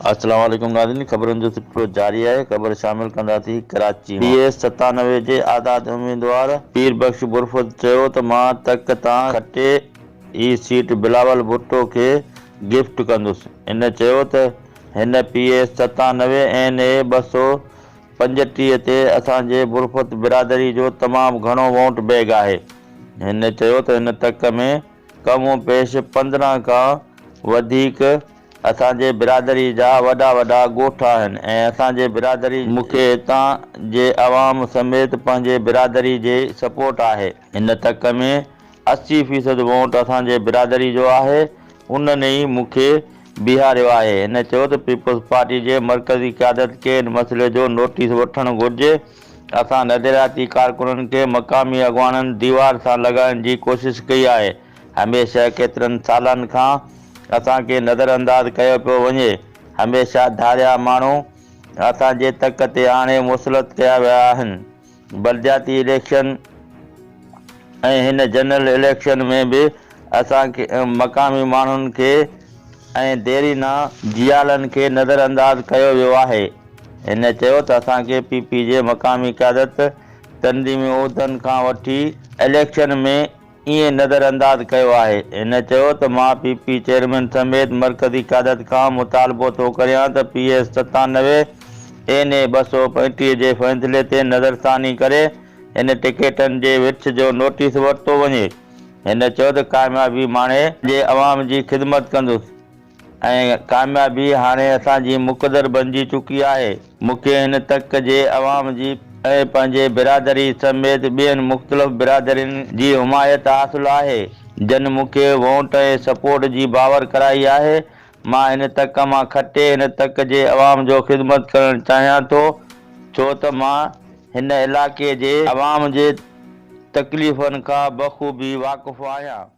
السلام عليڪم ناظرين خبرن جو سلسلو جاري آهي خبر شامل ڪنداسين ڪراچي مان پي ايس ستانوي جي آزاد اميدوار پير بخش برفت چيو ته مان تڪ تان کٽي هي سيٽ بلاول ڀٽو کي گفٽ ڪندس ان چيو ته هن پي ايس ستانوي اين اي ٻه سؤ پنجٽيهه تي اسان جي برفت برادري جو تمام گهڻو وونٽ بيگ آهي. هن چيو ته هن تڪ ۾ ڪم و پيش پندرهن کان وڌيڪ اسان جي برادري جا وڏا وڏا ڳوٺ آهن ۽ اسان جي برادري جي مون کي هتان جي عوام سميت پنهنجي برادري جي سپورٽ آهي. هن تڪ ۾ اسي فيصد وونٽ اسان جي برادري جو آهي، انهن ئي مون کي بيهاريو آهي. هن چيو ته پيپلز پارٽي جي مرڪزي قيادت کي ان مسئلي جو نوٽيس وٺڻ گهرجي، اسان نظرياتي ڪارڪنن کي مقامي اڳواڻن ديوار سان لڳائڻ جي ڪوشش ڪئي آهي، هميشه ڪيترن سالن کان اسان کي نظر انداز ڪيو پيو وڃي، هميشه ڌاريا ماڻهو اسان جي تڪ تي آڻي مسلط ڪيا ويا آهن. بلدياتي اليڪشن ۽ هن جنرل اليڪشن ۾ به اسان کي مقامي ماڻهن کي ۽ ديرينا جيالن کي نظر انداز ڪيو ويو آهي. هن چيو ته اسان کي پي پي جي مقامي قيادت تنظيمي عهدن کان وٺي اليڪشن ۾ ايئن نظرانداز ڪيو آهي. هن چيو ته مان پي پي چيئرمين سميت مرڪزي قيادت کان مطالبو ٿو ڪريان ته پي ايس ستانوي اين اي ٻه سؤ پنجٽيهه جي فيصلي تي نظرثاني ڪري هن ٽڪيٽن جي وٺ جو نوٽيس ورتو وڃي. هن چيو ته ڪاميابي ماڻي. جي عوام جي خدمت ڪندس. ۽ ڪاميابي هاڻي اسان جي مقدر بنجي چڪي آهي. مون کي هن تڪ جي عوام جي ۽ پنهنجي برادري سميت ٻين مختلف برادرين جي حمايت حاصل آهي، جن مون کي وونٽ ۽ سپورٽ جي باور ڪرائي آهي. مان هن تڪ مان کٽي هن تڪ جي عوام جو خدمت ڪرڻ چاهيان ٿو، ڇو ته مان هن علائقي جي عوام جي تڪليفن کان بخوبي واقف آهيان.